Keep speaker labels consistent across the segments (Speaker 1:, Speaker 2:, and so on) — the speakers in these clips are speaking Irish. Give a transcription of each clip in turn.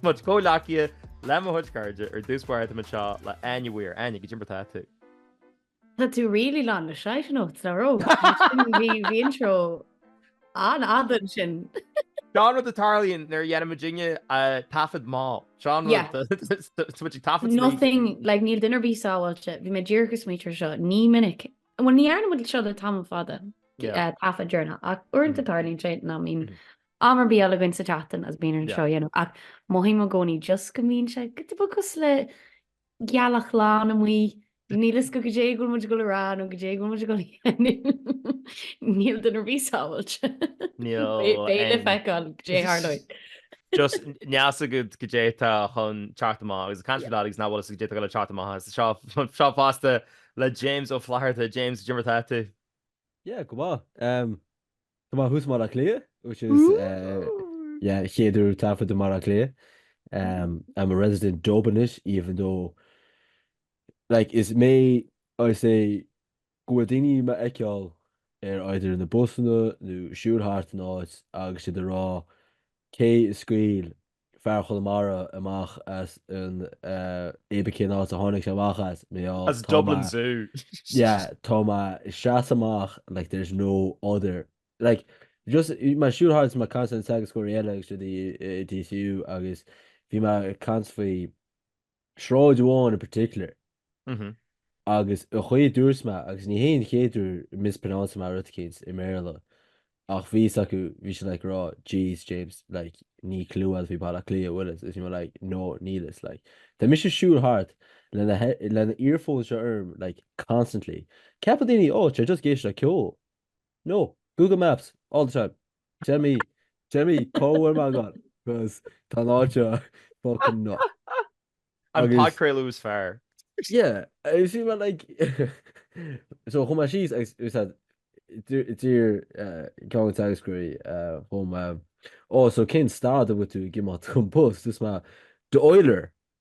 Speaker 1: Mo chomhghleacaithe le mo chuid cairde ar dtús báire tá muid anseo le Áine Weir. Áine, cad é mar atá tú? Tá tú really lán le side notes le ró. Bhí bhí intro an-fhada ansin. Seo an rud a tharlaíonn nuair a dhéanann muid dinge taifead mall. Seo an Yeah. rud tá muid ag taifead smaointe. Nothing, like níl duine ar bith sábháilte, bhí mé díreach ag smaointiú air seo, ní minic. Bhuel ní dhearna muid seo le tamall fada Yeah. uh, taifead deireanach ach uaireanta tarlaíonn sé nach mbíonn Am ar bith eile againn sa tseachtain agus bíonn orainn seo a dhéanamh ach mothaím i gcónaí just go mbíonn sé go dubha cosúil le gealach lán amuigh, níl fhios agat cad é go bhfuil muid ag dul a rá nó cad é go bhfuil muid ag dul a dhéanamh. Níl duine ar bith sábháilte. Beidh le feiceáil cad é a tharlóidh. Just níl fhios agat cad é atá chun teacht amach agus caint ar lads nach bhfuil fhios cad é atá le teacht amach as anseo fosta le James Ó Flatharta. James, cad é mar atá tú? Yeah, go maith. Tá mé thuas i mBaile Átha Cliath, which is yeah, chéad uair ag taifead i mBaile Átha Cliath. Um, I'm a resident Dub anois, even though, like, is mé, I say, go bhfuil daoine do m'fheiceáil ar either na busanna nó ag siúl thart an áit agus siad ag rá, cé a scaoil fear Chonamara amach as an Éabha cén áit a tháinig sé amach as, mé á As tá Dublin mé Zoo. yeah tá mé ag seasamh amach like there's no other like just bhí mé ag siúl thart agus mé ag caint le na teagascóirí eile agus siad i i DCU agus bhí mé ag caint faoi sráid amháin in particular agus an chaoi a dúirt mé, agus ní hé an chéad uair mispronounce-áil mé rud éicint i mBéarla, ach bhí fhios acu, bhí siad like rá, jeez James, like níl clue agat faoi Baile Átha Cliath an bhfuil fhios, agus bhí mé like, no, níl fhios, like tá mise ag siúl thart le na le na earphones seo orm like constantly. Ceapann daoine, oh, tá sé just ag éisteacht le ceol. No, Google Maps, all the time. Tell me, tell me, cá bhfuil mé agat? Because tá an áit seo fucking nuts. An Agus- podchraoladh is fearr. Yeah, it was just about like so chuaigh mé síos agus it was that dear dear uh, John Salisbury uh, chum mé oh so cén stad a bhfuil tú ag imeacht chun post is mé d'Oiler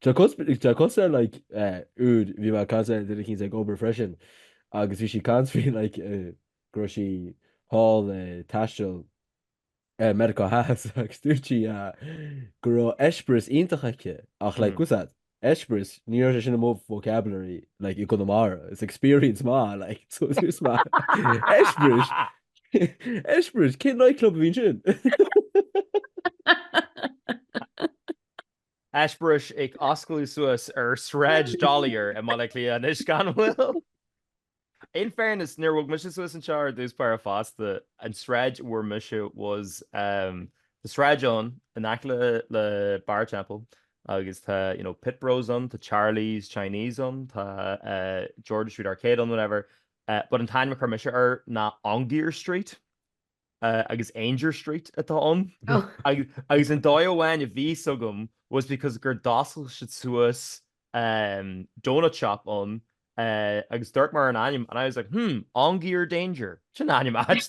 Speaker 1: Tá cos tá cosúil like eh, úd bhí mé ag caint le duine éicint ag obair freisin agus bhí sí ag caint faoi like eh, go raibh sí thall ag taisteal eh, Meiriceá Theas agus dúirt sí ah, go raibh eispéireas iontach aici ach like Mm. what's that eispéireas ní raibh sé sin i mo vocabulary like i gConamara it's experience man like so it's just má eispéireas eispéireas cé nightclub a bhíonn sin Eispéiris ag osclú suas ar Shráid D'Olier i mBaile Átha Cliath anois gan mhoill. In fairness, níor bhog mise suas anseo ar dtús báire fosta, an tsráid a bhfuair mise was um tá sráid ann in aice le le Barra an Teampaill agus tá you know Pit Bros ann, tá Charlie's Chinese ann, tá eh George's Street Arcade ann whatever eh but an t-ainm a chuir mise air ná Ongier Street. agus Aungier Street atá ann agus an dóigh amháin a bhí agam was because gur oscail siad suas doughnut shop ann agus dúirt mé an ainm and I was like hmm Aungier Danger sin ainm áit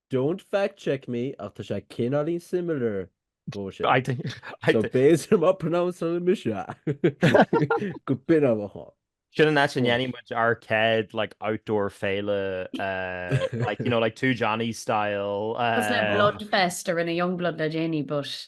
Speaker 1: Don't fact check me ach tá sé cineáilín similar dhó sin. I think so. Based ar mo pronouncing mise, go b'in amhlaidh a tá. Sin an áit a ndéanfaidh muid ár gcéad like outdoor féile eh, like, you know, like Two Johnnies style. It was like eh, Bloodfest a rinne Yungblud le déanaí but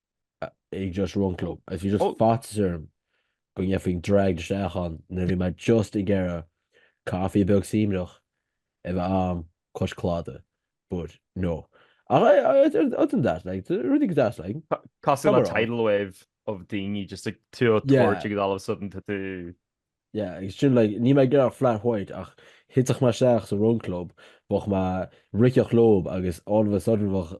Speaker 1: ag just run club. Is bhí just faitíos orm go ngabhfainn dragged isteach ann nuair a bhí mé just ag iarraidh caife beag suaimhneach a bheith ann cois cladaigh. But, no. Ach, other than that, like, rudaí go deas, like. Casadh le tidal wave of daoine just ag tabhairt agus all of a sudden tá tú. Yeah, agus sin, like, níl mé ag iarraidh flat white ach thitfeadh mé isteach sa run club, bheadh mé ag ritheacht leo agus all of a sudden bheadh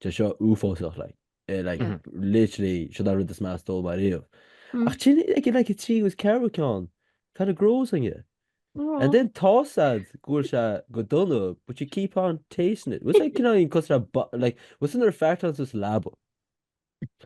Speaker 1: Tá seo uafásach, like, eh, like, Mhm. literally, seo é an rud is measa a d'ól mé ariamh. Mm. Ach sin, like, like, an tríú agus ceathrú ceann, kinda grows on you. Oh. And then tá a fhios agat go bhfuil sé go dona, but you keep on tasting it. What's like, you know, you cut that bu- like, what's another fact on this lab?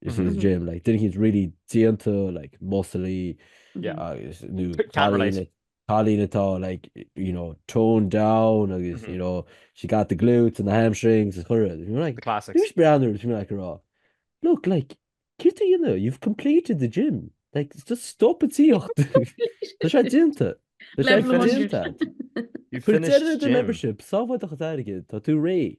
Speaker 1: Is mm-hmm. Jim like didn't he's really déanta like muscly yeah agus nu Colleen atá like you know toned down agus mm-hmm. you know she got the glutes and the hamstrings is horrid you like the classics who's brand you like raw look like kid you know you've completed the gym like just stop it see Tá sé déanta You finished the membership sáhaid a chaige tá tú ré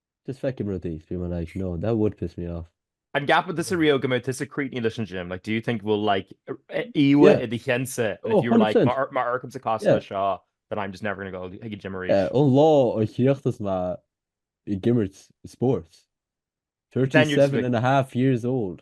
Speaker 1: Just faoi am is rudaí, I'd be like, no, that would piss me off. An gceapann tusa riamh go mbeidh tusa críochnaithe leis an gym? Like, do you think bhfuil, like, íomhá i do cheannsa, if you were like, má amharcaimse cosúil leis seo, then I'm just never going to go chuig an gym arís? An lá a chríochnas mé ag imirt spóirt, 37 and a half years old.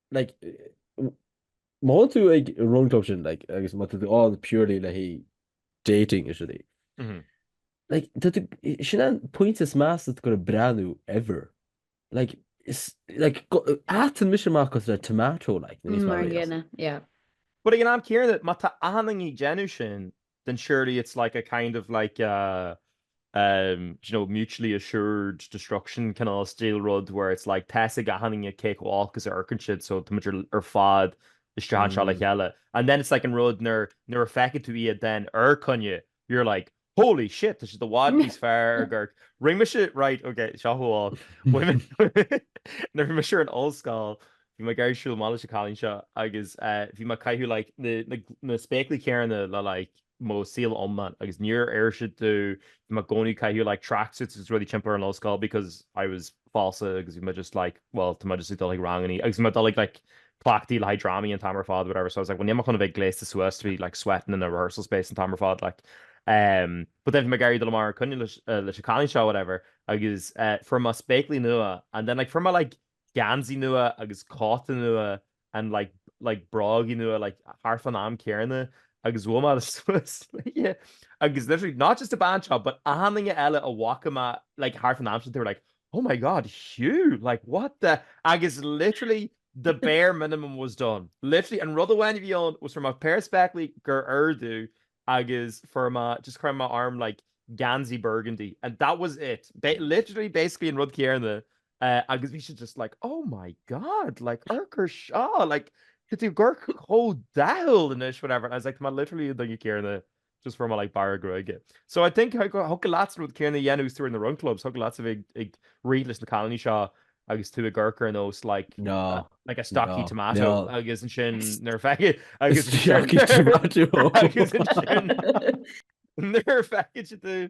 Speaker 1: like, má théann tú ag run club sin, like, agus má tá tú ann purely le haghaidh dating is rudaí. Mm -hmm. Like, sin an pointe is measa atá tú ag breathnú ever. Like, is, like, éiríonn mise amach i mo tomato, like, níos mar yeah. But ag an am céanna, má tá 'chuile dhuine ag déanamh sin, then surely it's like a kind of like a um do you know mutually assured destruction cineál stíl rud where it's like tá fhios ag achan duine cé chomh olc is a amharcann siad so táimid ar fad isteach anseo le chéile. And then it's like an rud nuair nuair a fheiceann tú iad then ar coinne, you're like holy shit tá siad i bhfad níos fearr ag amharc. Rinne mise right ok so amháin nuair bhí mise ar an ollscoil Bhí mé ag iarraidh siúl amach leis an cailín seo agus bhí mé ag caitheamh like na spéaclaí céanna le like mo saol iomlán agus níor oir siad domh, bhí mé i gcónaí ag caitheamh like tracksuits agus rudaí timpeall ar an ollscoil because I was falsa agus bhí mé just like well tá mé just ag dul chuig rangannaí agus bhí mé ag dul chuig like cleachtaí le haghaidh drámaí an t-am ar fad whatever so I was like well níl mé chun a bheith gléasta suas to be like sweating in a rehearsal space an t-am ar fad like um but then bhí mé ag iarraidh dul amach ar coinne leis an cailín seo whatever agus fuair mé spéaclaí nua and then like fuair mé like geansaí nua agus cóta nua and like like brógaí nua like thart fán am céanna agus bhuail mé suas léi agus literally not just an ghirseach but aoinne eile a bhfaca mé like thart fán am sin they were like oh my god Hugh like what the agus literally the bare minimum was done. Literally an rud amháin a bhí ann was fuair mé péire spéaclaí gur oir domh agus fuair mé just chaith mé orm like geansaí burgundy and that was it. Ba- literally basically an rud céanna agus bhí sí just like, oh my God, like, ag amharc air seo, like, tá tú ag amharc chomh dathúil anois, whatever, and I was like, tá mé literally an duine céanna just fuair mé like bearradh gruaige. So I think thig leat an rud céanna a dhéanamh má tá tú ar na run clubs, thig leat bheith ag rith leis na cailíní seo agus tú ag amharc ar nós like, no, uh, like a stocky no, tomato agus ansin nuair a fheiceann sí tú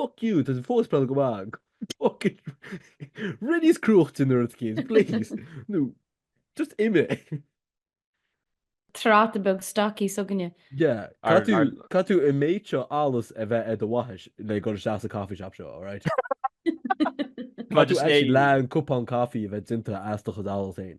Speaker 1: Fuck you, tá sé fós ag pleanáil go maith. Rith níos cruaidhe an chéad uair eile, please. Nó just imigh. Tráta beag stocaí s'againne. Yeah, Caithfidh tú, caithfidh tú an méid seo allas a bheith ar do bhaithis le dul isteach sa coffee shop seo, alright? Caithfidh tú Maidir leis actually é- leath an cupán caife a bheith déanta as do chuid allas fhéin.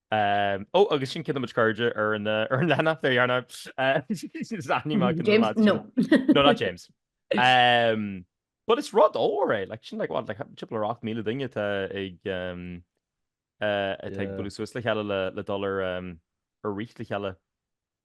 Speaker 1: Ó, agus sin rinne muid cairde ar an leathanach, there you are now. Is aithní maith go mbeadh leid. James, no. No, not James. But it's rud mór é, like, sin, like, what, like, timpeall ar 8,000 duine atá ag, atá ag bualadh suas le chéile le dul ar, ar rith le chéile.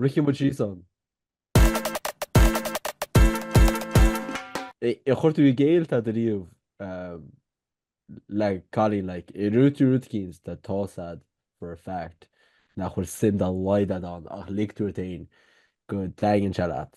Speaker 1: Rithfidh muid síos ann. ar chuir tú i gcéill tada riamh le cailín like i rud, rud éicint atá a fhios agat for a fact nach bhfuil suim dá laghad ann ach lig tú ort fhéin go dtaitníonn sé leat.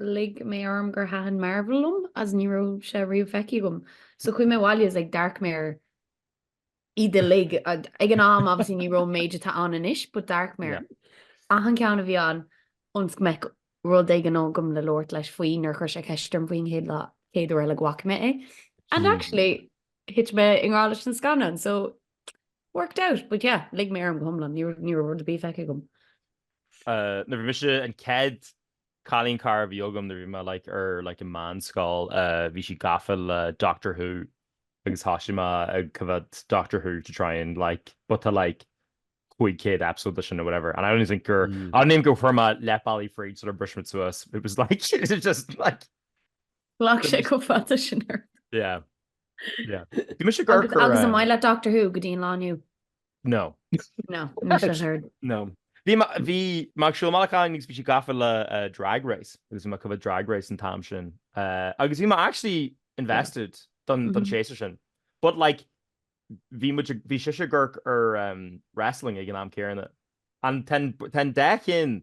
Speaker 1: lig mé orm gur thaitin Marvel liom as ní raibh sé riamh feicthe agam. So chuaigh mé abhaile agus d'amharc mé ar iad uilig. Ag an am obviously ní raibh an méid atá ann anois but d'amharc mé ar achan ceann a bhí ann ionas go mbeadh rud éigin agam le labhairt leis faoi nuair a chuir sé ceist orm faoi an chéad uair eile go bhfaca mé é. And actually thit mé i ngrá leis an scannán so worked out but yeah lig mé orm go hiomlán ní raibh rud ar bith feicthe agam. Nuair a bhí mise an cead Cailín cara a bhí agam nuair a bhí mé like ar like i meánscoil, bhí sí gafa le Doctor Who agus thosaigh mé ag coimhead Doctor Who to try and like but tá like cúig céad episode de sin or whatever and I don't think gur, I don't think gur chuir mé leath bealaigh fríd sular bhris muid suas, it was like it was just like. Ghlac sé chomh fada sin ort. Yeah, yeah. Bhí mise gur chuir. Agus an maith leat Doctor Who go dtí an lá inniu? No. No, no. Bhí bhí mar siúlachán níos bhí sí gafa le uh, drag race agus bhí mé ag coimhéad drag race an t-am sin uh, agus bhí mé actually invested don don mm-hmm. séasúr sin. But like bhí bhí sí sa tóir ar um, wrestling ag an am céanna. An ten dechin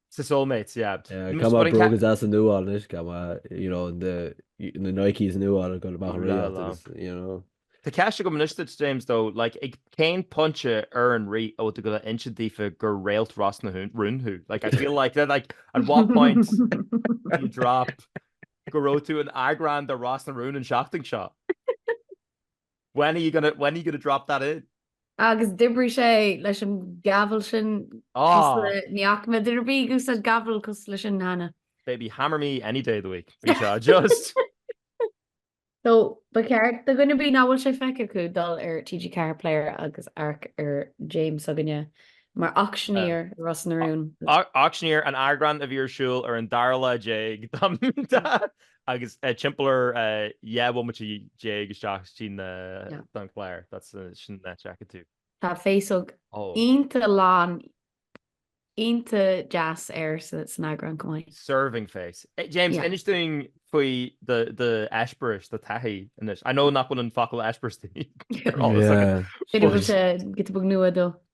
Speaker 1: Sa Soulmates, yeah. Yeah, Tá mo bhróga as an nuáil anois, tá mo, you know, na Nikes an nuáil go amach an ríocht agus, you know. Tá ceist agam anois duit, James, dó, like, ag cén pointe an raibh tú ag gabháil a inse daofa gur réalt Ros na Rún thú? Like, I feel like, like, at what point do you drop go raibh tú in eagrán de Ros na Rún an seachtain seo? When are you gonna, when are you gonna drop that in? Agus d'oibrigh sé leis an gavel sin cosúil le Niocma. Did it be gus an gavel cosúil le sin Hannah? Baby, hammer me any day of the week. Bhí seo just. So, ba cheart do dhuine ar bith nach bhfuil sé feicthe acu dul ar TG4 Player agus amharc ar James s'againne mar auctioneer i Ros na Rún. Auctioneer, an eagrán a bhí ar siúl ar an dara lá déag dá Agus timpeall ar 10 bhomaite déag isteach sa chlár. That's the sin nuair a fheiceann tú. Tá féasóg ionta lán, ionta deas air san eagrán chomh maith. Serving face. James, inis dúinn faoi do eispéireas, do thaithí anois. I know nach bhfuil an focal eispéireas sin ar eolas agat. Féidir liom sé, go dtí bog nua dó.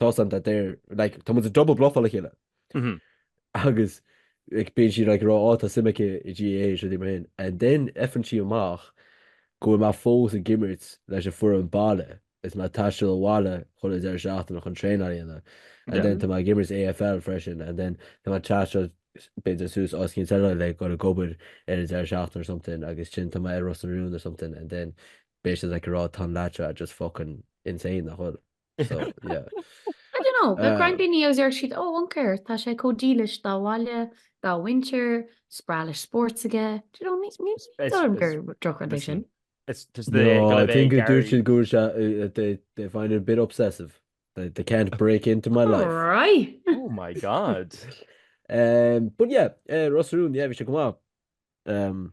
Speaker 1: Tosaíonn tá deir like tá muid ag double bluffáil a chéile agus like bíonn sí like ag rá á tá suim aici i GAA is rudaí mar sin and then faigheann sí amach go bhfuil mé fós ag imirt leis an bhfoireann baile is mé ag taisteal abhaile chuile dheireadh seachtaine chun traenáil a dhéanamh and then tá mé ag imirt AFL freisin and then tá mé ag taisteal b'fhéidir suas os cionn seileáin le go an ghobar ar an deireadh seachtaine or something agus ansin tá mé ar Ros na Rún or something and then b'fhéidir like ag rá tá an leaid seo just fucking insane nach bhfuil? So, yeah. I don't know, bheadh roinnt daoine a deir siad, oh, an créatúr, tá sé chomh dílis dá bhaile, dá mhuintir, is breá leis spórt aige. Do you know, ní, ní, ní dóigh liom gur drochrud é sin. It's just the no, I think go dtéann siad go they they find it a bit obsessive. They, they can't break into my life. Right. Oh my god. um, but yeah, uh, Ros na Rún, yeah, bhí sé go maith. Um,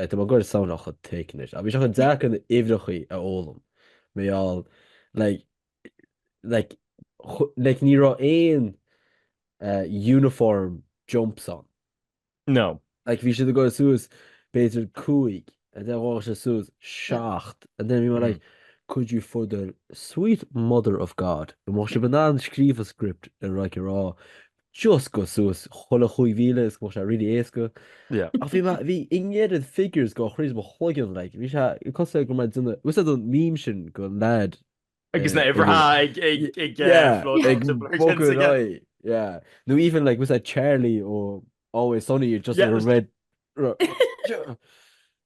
Speaker 1: Tá mé ag gabháil soundáil chomh thick anois. Ach bhí sé chomh deacair na huimhreachaí a fhoghlaim. Mé all, like, like, like ní raibh aon uniform jumps ann. No. Like bhí siad ag gabháil suas b'fhéidir cúig and then ghabhadh siad suas seacht and then bhí mé like, could you for the sweet mother of God, go mbeadh sibh in ann scríobh an script ar like a rá just gabh suas chuile chúig mhíle is go mbeadh sé really éasca ach bhí mé bhí an oiread figures ag gabháil thrí mo chloigeann like bhí sé cosúil go mbeadh duine bhfuil a fhios agat an meme sin den lad Agus na uimhreacha ag ag ag yeah floating ag the blurred bogfadh lines ar again. aghaidh yeah nó even like bhfuil a fhios agat Charlie ó Always Sunny just a red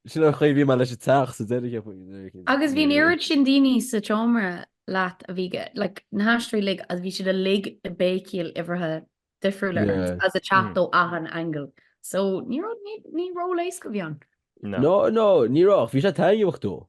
Speaker 1: Sin an chaoi a bhí mé leis an teach sa deireadh faoin. Agus bhí an oiread sin daoine sa tseomra leat a bhí like na haisteoirí uilig agus bhí siad uilig ag béicíl uimhreacha difriúla ort is ag teacht ó achan angle. So ní raibh ní ní ról éasca a bhí ann. No no ní raibh, bhí sé taitneamhach though.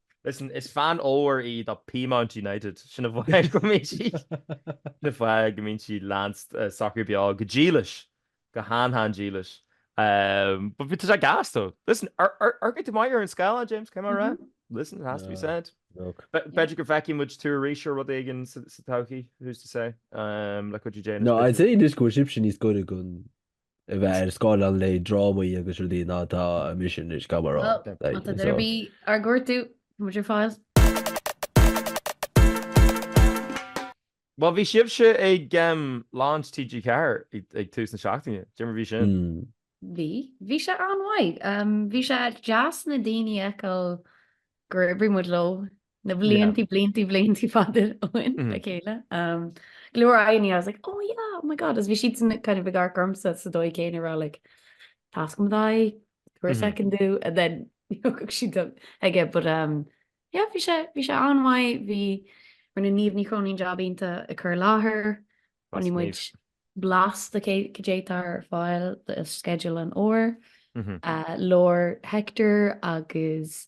Speaker 1: Listen, is fan mhór í do Peamount United, sin an fáth go mbíonn sí, sin an fáth go mbíonn sí leanann sí Sacar Beo go dílis, go han-han-dílis. But bhí, tá sé gas though. Listen, amharcann tú maith ar an scáileán, James, caithfidh mé a rá? Listen, it has to be said. Look. B'fhéidir go bhfeicfidh muid tú arís ar rud éigin sa todhchaí, who's to say, le cuidiú Dé, le cuidiú. No, I'd say anois go bhfuil sibhse níos gaire go a bheith ar scáileán le drámaí agus rudaí ná tá mise anois, caithfidh mé a rá. Well, má tá duine ar bith ár gcuartú, tá muid ar fáil. Bhuel, bhí sibhse ag Launch TG4 ag tús na seachtaine, cad é mar a bhí sin. Bhí, bhí sé an-mhaith. Bhí sé deas na daoine a fheiceáil gur oibrigh muid leo na bliantaí bliantaí bliantaí fada ó shin le chéile. Go leor aghaidh I was like, oh yeah, oh my god, agus bhí siadsan kind of ag amharc ormsa sa dóigh céanna a rá like, tá a fhios agam d'aghaidh, tabhair mm-hmm. second domh, and then thug siad aige, but um, yeah, bhí sé bhí sé an-mhaith, bhí rinne Niamh Ní Chróinín jab iontach á chur i láthair, rinne muid blas de cad é atá ar fáil do schedule an fhómhair, mm-hmm. uh, labhair Hector agus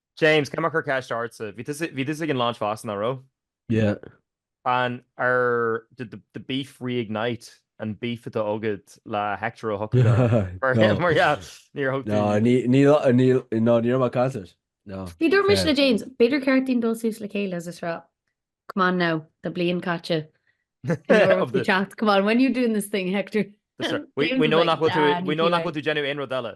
Speaker 1: James, tá mé ag cur ceist ortsa, bhí tú bhí tusa ag an launch fosta, nach raibh? Yeah. An ar did the the beef reignite an beef atá agat le Hector Ó hEochagáin mar No. mar yeah níor thug No, tú ní- níl a- níl, no, ní raibh mé ag caint air. No. Ní dúirt mise le James, b'fhéidir gur cheart dúinn dul suas le chéile is a rá, come on now, tá bliain caite of the teacht, come on, when you doing this thing, Hector? That's right. We James we is know like, nach bhfuil tú nah, we ní know nach bhfuil tú ag déanamh aon rud eile.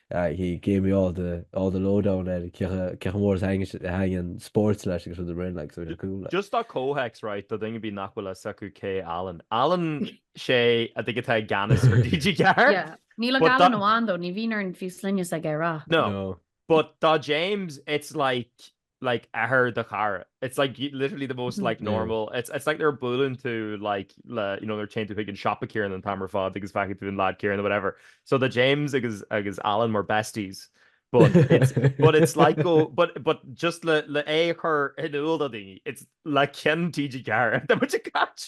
Speaker 1: He gave me all the all the low down ar cé chomh mór is a thaitníonn spóirt leis agus rud araon like so bhí sé cool like. Just do chomhthéacs right do dhaoine b'fhéidir nach bhfuil fhios acu cé Alan. Alan sé an té atá i gceannas ar TG4. Yeah. Níl ach Alan amháin though, ní bhíonn orainn fiú sloinne s'aige a rá. No. No. But do James it's like like athair do chara. It's like you literally the most like Yeah. normal. It's it's like they're bualann tú like le you know they're chained tú chuig an siopa Kieran an t-am ar fad agus feicfidh tú an lad Kieran or whatever. So the James agus agus Alan were besties. But it's but it's like go but but just le le é a chur in iúl do daoine it's le ceann TG4 tá muid ag cairt.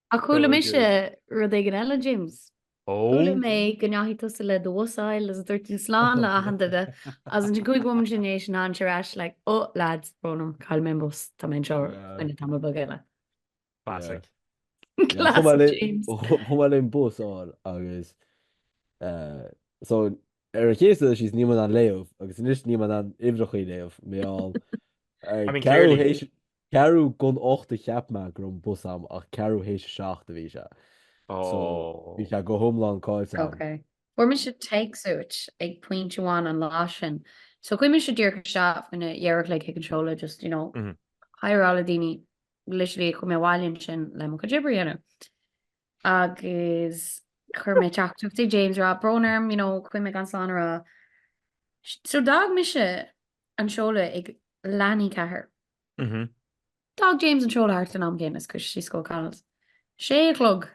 Speaker 1: Ach chuala mise rud éigin eile, James. Ó? Chuala mé go ndeachaigh tusa le do bhus a fháil agus dúirt tú slán le achan duine agus ansin cúig bhomaite ina dhiaidh sin ansin ar ais like oh lads, brón orm, chaill mé an bus, tá mé anseo fá choinne tamall beag eile. Classic. Classic James. Chuaigh mé le mo bhus a fháil agus eh, so ar an chéad dul síos níl mé in ann léamh agus anois níl mé in ann uimhreachaí a léamh mé áil I mean, clearly. Ceathrú chun a hocht a cheap mé go raibh an bus ann ach ceathrú théis a seacht a bhí sé. So bhí sé go hiomlán caillte agam. Ok. Fuair mise téacs uait ag pointe amháin an lá sin. So chuaigh mise díreach isteach faoina ceathair a chlog chuig an seoladh just, you know, hi a rá le daoine literally a chuaigh mé abhaile ansin le mo chuid oibre a dhéanamh. agus chuir mé teachtaireacht ag James ag rá brón orm, you know, chuaigh mé gan slán a rá. So d'fhág mise an seoladh ag leath i ndiaidh a ceathair. Mhm. D'fhág James an seoladh thart ar an am céanna is chuaigh sé síos go O'Connell's. Sé a chlog.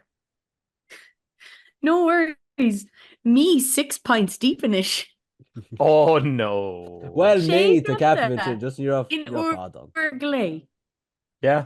Speaker 1: No worries, mé six pints deep anois. Oh no! Well, Sé mé, tá ceapaim cloistear ansin, just ní raibh, in ní raibh úr fad ann. glé. Yeah.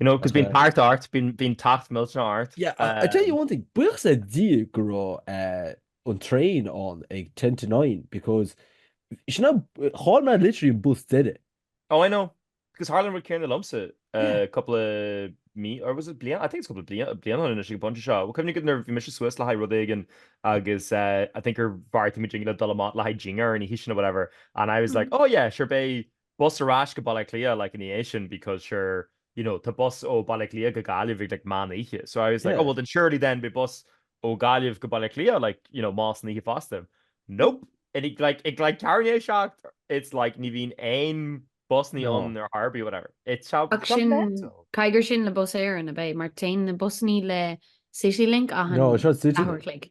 Speaker 1: You know, cos bíonn tart ort, bíonn tart millteanach ort. Yeah, I tell you one thing, buíochas le Dia go raibh an traein ann ag ten to nine because sin ná, cháill mé literally an bus deiridh. Oh, I know, cos tharla an rud céanna liomsa cúpla mí, or was it bliain, I think it's cúpla bliain anois ag an bpointe seo, well cuimhnigh go nuair bhí mise suas le haghaidh rud éigin agus I think gur bheartaigh muid dinn le dul amach le haghaidh dinnéar ina dhiaidh sin nó whatever and I was like, oh yeah, sure beidh bus ar ais go Baile Átha Cliath like ina dhiaidh sin because sure you know tá bus ó Baile Átha Cliath go Gaillimh ag like meán oíche so I was like oh well then surely then beidh bus ó Gaillimh go Baile Átha Cliath like you know meán oíche fosta nope and he like ag like ceathrú i ndiaidh a seacht it's like ní bhíonn aon bus ní ann ar chor ar bith whatever it's how caithfidh gur sin le Bus Éireann ab ea mar téann na busanna le City Link a no, City Link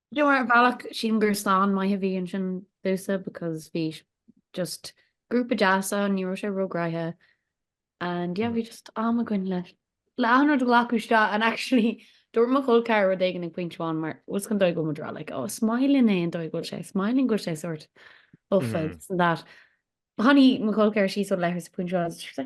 Speaker 1: Do you know ar bhealach sílim gur slán maith a bhí ansin domhsa because bhí just grúpa deas ann ní raibh sé róghnoitheach and yeah bhí just am againn le le an rud a ghlacadh isteach and actually dúirt mo chol ceathar rud éigin ag pointe amháin mar bhfuil fhios agat an dóigh go bhfuil muid ag rá like ó oh, is maith linn é an dóigh go bhfuil sé is maith linn go bhfuil sé sort of fé and that Tháinig mo chol ceathar síos ó Leitir sa pointe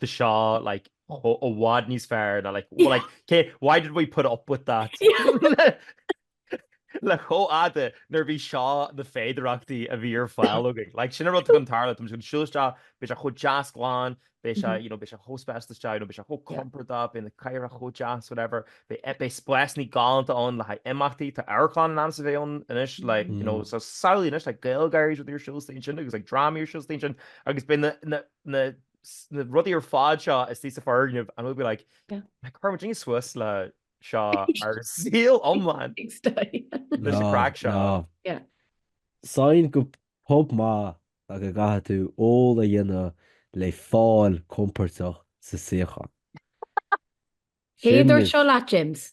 Speaker 1: Tá seo like chomh i bhfad níos fearr ná like well like cé why did we put up with that? le chomh fada nuair bhí seo na féidearthachtaí a bhí ar fáil againn. Like sin an rud atá chun tarlú tá muid ag siúl isteach, beidh sé chomh deas glan, beidh sé you know beidh sé chomh speisialta isteach you know beidh sé chomh compordach, beidh na cathaoireacha chomh deas whatever, beidh beidh spásanna galánta ann le haghaidh imeachtaí, tá amharclann in ainm is a bheith ann anois like you know so samhlaigh anois tá GaelGáirí is rud ar siúl istigh ansin agus drámaí ar siúl istigh ansin agus beidh na na na sna rudaí ar fád seo istigh sa foirgneamh and we'll be like yeah chuir muidinne suas le seo ár saol iomlán leis an chraic seo. yeah. Sign gur pub maith é go gcaithfidh tú ól a dhéanamh le fáil compordach sa suíochán. Cé a dúirt seo leat, James?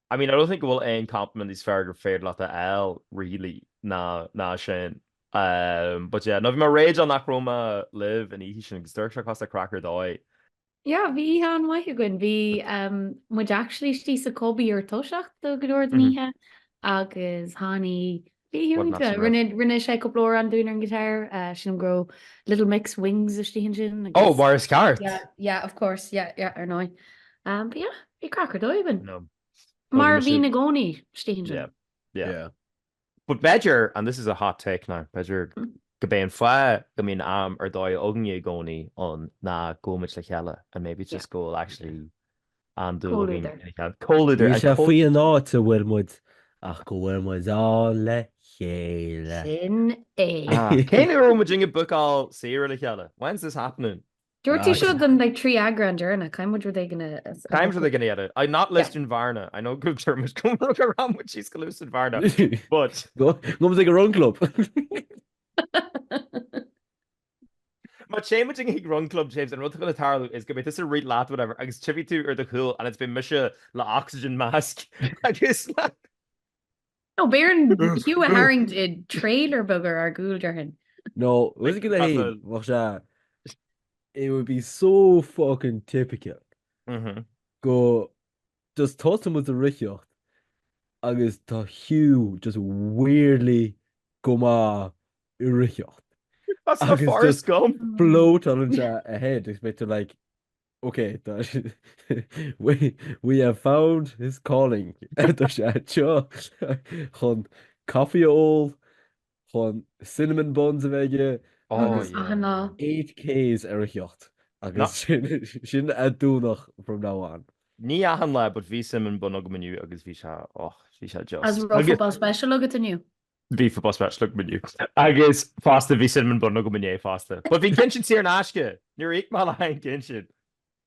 Speaker 1: I mean, I don't think go bhfuil aon compliment níos fearr gur féidir leat a fháil, really, ná ná sin. Um, but yeah, no, bhí mé raging nach raibh mé libh an oíche sin agus d'amharc sé cosúil le craic ar dóigh. Yeah, bhí oíche an-mhaith againn. Bhí um muid actually istigh sa Cobby ar toiseacht do go leor den oíche agus tháinig Iontach! Rinne sé cúpla amhrán dúinn ar an ghiotár, sin an gró. Little Mix Wings istigh ansin agus. Oh, mar is ceart! Yeah, yeah, of course, yeah, yeah, ar ndóigh. But yeah, bhí craic ar dóigh againn. No. Mar a bhíonn i gcónaí istigh ansin. Yeah, yeah. Yeah. But b'fhéidir, and this is a hot take now, b'fhéidir gurb é an fáth go mbíonn am ar dóigh againne i gcónaí ann ná go bhfuil muid le chéile and maybe it's just go bhfuil actually an-dúil againn ina chéile. Comhluadar. Níl sé faoin áit a bhfuil muid ach go bhfuil muid ann le chéile. Sin é. Cén uair a bhfuil muid ag bucáil saoire le chéile? When is this happening? Dúirt sí seo don like trí eagrán deireanach. Caithfidh muid rud éigin a bhucáil. Caithfidh muid rud éigin a dhéanamh. And not Lisdoonvarna. I know good term is coming rug a raibh muid síos go Lisdoonvarna. But. Gabhfaidh muid chuig a run club. Má tá muidinne ag run club James, an rud atá le tarlú is go mbeidh tusa ag rith leat whatever agus tchífidh tú ar do chúl and it's been mise le oxygen mask agus le. Nó beidh orainn Hugh a tharraingt i dtrailer beag ar ár gcúl déarfainn. Nó bhfuil a fhios agat féin, bheadh sé, it would be so fucking typical go just tosaíonn muid ag reathaíocht agus tá Hugh just weirdly go maith ag reathaíocht. That's not Agus Forrest just- Gump. Bolt on into ahead, is beidh tú like, okay, that, we we have found his calling. Tá sé anseo chun coffee a ól chun cinnamon buns a bheith aige agus eight Ks ar a theocht agus sin a dúnadh from now on. Ní achan lá but bhí cinnamon bun agam inniu agus bhí sé och, bhí sé just. Agus an raibh football special agat inniu? Bhí football special agam inniu agus fosta bhí cinnamon bun agam inné fosta. But bhí an ceann sin saor in aisce, níor íoc mé le haghaidh an cinn sin.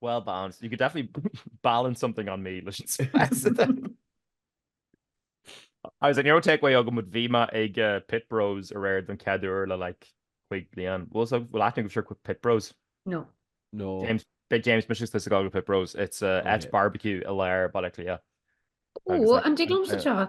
Speaker 1: Well balanced. You could definitely balance something on me leis an stress. I was like, ní raibh takeaway agam but bhí mé ag Pit Bros aréir don chéad uair le like cúig bliain. Bhfuil so- bhfuil aithne agaibh ar Pit Bros? No. No. James, beidh James mise ag gabháil go Pit Bros. It's a áit barbecue i lár Baile Átha Cliath. Ó, an dtig liomsa seo?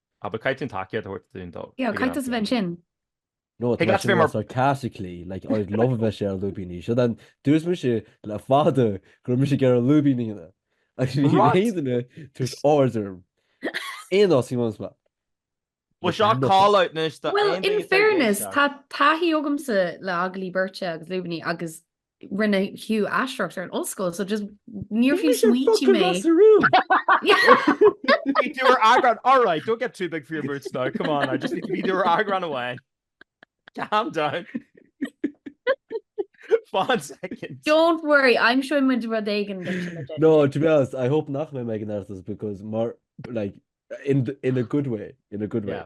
Speaker 1: Ab ea caitheann taicéad a thabhairt dúinn dó? Bhí Ann ag caitheamh a bheith ansin. No, tá sé mar sarcastically, like, I would love a bheith sé ar lúibíní. So then, dúirt mise le fada go raibh mise ag iarraidh lúibíní a dhéanamh. Agus bhí an aon duine tú ag ard orm. Aon fhás bhí ann. Well, seo call out anois do aon duine atá ag éisteacht. Well, in fairness, tá taithí agamsa le agallaimh beirte agus lúibíní agus rinne Hugh aisteoireacht ar an ollscoil so just níor bhí smaointí mé tú ar agran all right don't get too big for your boots now come on I just need to be there agran away calm down Fád second. Don't worry, I'm sure muid rud éigean No, to be honest, I hope nach mé me an airtas because mar like in in a good way, in a good way. Yeah.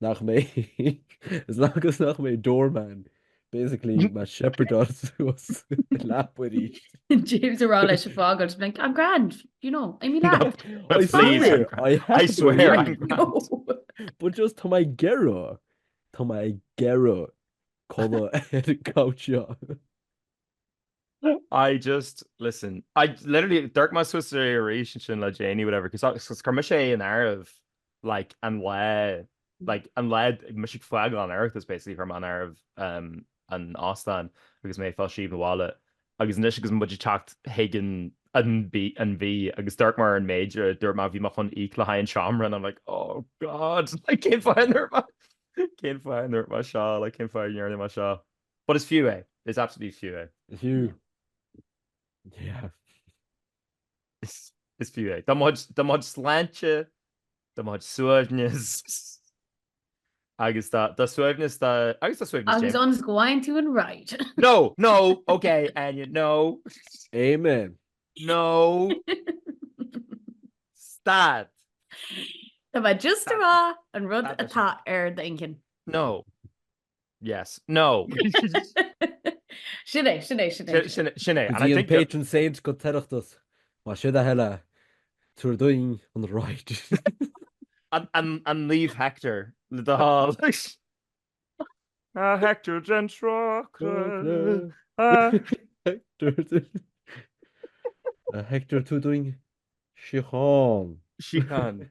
Speaker 1: nach mbeidh mé agus nach mbeidh mé doorman basically do mo shepherdáil suas i leaba aríst. James ag rá leis é a fhágáil is beidh I'm grand, you know, I'm in that. I swear, I have I swear, I'm grand. But just tá mé ag iarraidh, tá mé ag iarraidh codladh ar an gcouch seo. I just, listen, I literally, d'amharc mé suas air arís ansin le déanaí, whatever, cos I, cos chuir mise é in áireamh, like, an lá, like, an lá, mise ag fágáil an Oireachtais, basically, chuir mé in áireamh an t-óstán agus mé ag fáil síob abhaile, agus anois agus muid ag teacht chuig an an mhí, an mhí, agus d'amharc mé ar an méid a dúirt mé, bhí mé chun íoc le haghaidh an seomra, and I'm like, oh God, like, cén fáth a ndúirt mé, cén fáth a ndúirt mé seo, like, cén fáth a ndearna mé seo? But it's fiú é. It's absolutely fiú é. It's fiú. Yeah. Is fiú é. Do mo chuid sláinte, do mo shuaimhneas agus do shuaimhneas do agus do shuaimhneas James. As long as go bhfaigheann tú an ride. No, no, ok, Áine, no. Amen. No. Stad. Tá mé just a rá an rud atá ar d'intinn. No. Yes. No. Sin é, sin é, sin é. Sin, sin é. And I think... patron saint den Oireachtas. Más é do thoil é, tabhair dúinn an ride. An Naomh Hector le do thoil. A Hector den tráca. A Hector tabhair dúinn síocháin. Síocháin.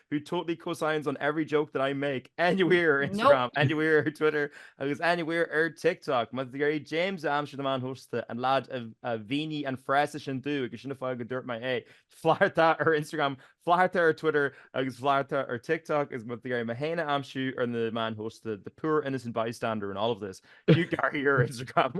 Speaker 1: who totally co-signs on every joke that I make anywhere ar Instagram, anywhere ar Twitter agus anywhere ar TikTok. Má tá tú ag iarraidh James a aimsiú ar na meáin shóisialta, an leaid a mhínigh an frása sin dúinn agus sin an fáth go dúirt mé é, flaithartá ar Instagram, flaithartá ar Twitter agus flaithartá ar TikTok agus má tá tú ag iarraidh mé féin a aimsiú ar na meáin shóisialta, the poor innocent bystander in all of this, Hugh Carr here ar Instagram.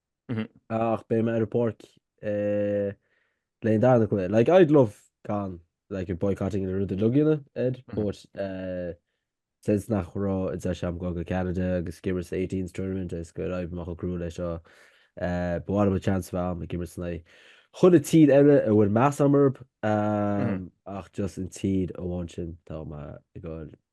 Speaker 1: Ach beidh mé ar an bpáirc le haghaidh an darna cluiche. Like, I'd love gan, like, you're boycotting na rudaí logaíona, Ed, but eh, since nach raibh an deis agam a ghabháil go Ceanada agus ag imirt sa 18s tournament is gur oibrigh mé chomh cruaidh leis seo, eh, ba mhaith liom an chance a bheith agam ag imirt in aghaidh chaon tír eile a bhfuil meas agam orthu, eh, ach just an tír amháin sin tá mé ag gabháil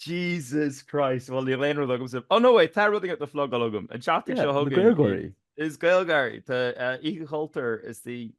Speaker 1: Jesus Christ, bhuel níl aon rud agamsa... Ó no wait, tá rudaí le plugáil agam. An tseachtain seo chugainn... Na GaelGáirí. Is GaelGáirí. Tá Oíche Chultúir istigh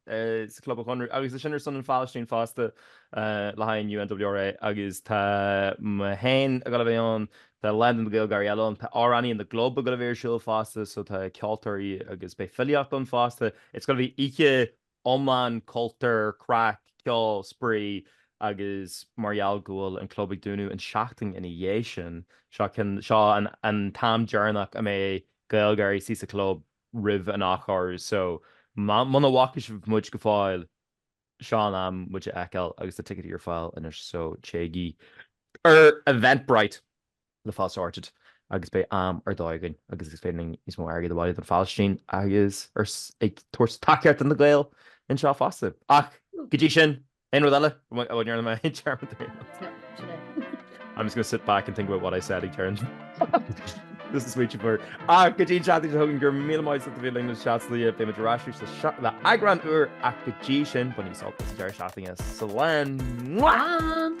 Speaker 1: sa Club an Chonradh agus sin ar son an Phalaistín fosta le haghaidh UNRWA agus tá mé féin ag gabháil a bheith ann, tá leath de na GaelGáirí eile ann, tá amhránaí an The Glub ag gabháil a bheith ar siúl fosta so tá ceoltóirí agus beidh filíocht ann fosta. It's going to be oíche iomlán, cultúr, craic, ceol, spraoi agus mar gheall go bhfuil an club ag dúnadh an tseachtain ina dhiaidh sin, seo an t-am deireanach a mbeidh GaelGáirí istigh sa chlub roimh an athchóiriú. So, muna bhfaca sibh muid go fóill, seo an am muid a fheiceáil agus tá ticéidí ar fáil anois so téigí ar Eventbrite! le fáil sorted agus beidh am ar dóigh againn agus is féidir linn níos mó airgid a bhailiú don Phalaistín agus ag tabhairt tacaíocht do na Gaeil anseo fosta. Ach go dtí sin, aon rud eile a bhfuil déarfaidh mé ag deireadh na dtaobh? I'm just going to sit back and think about what I said ag deireadh na dtaobh. This is sweet you for. Ach go dtí an tseachtain seo chugainn, go raibh míle maith agat as a bheith linn sa Seachtain Liath. Beimid ar ais arís le eagrán úr ach go dtí sin, bainigí sult as an deireadh seachtaine. Slán!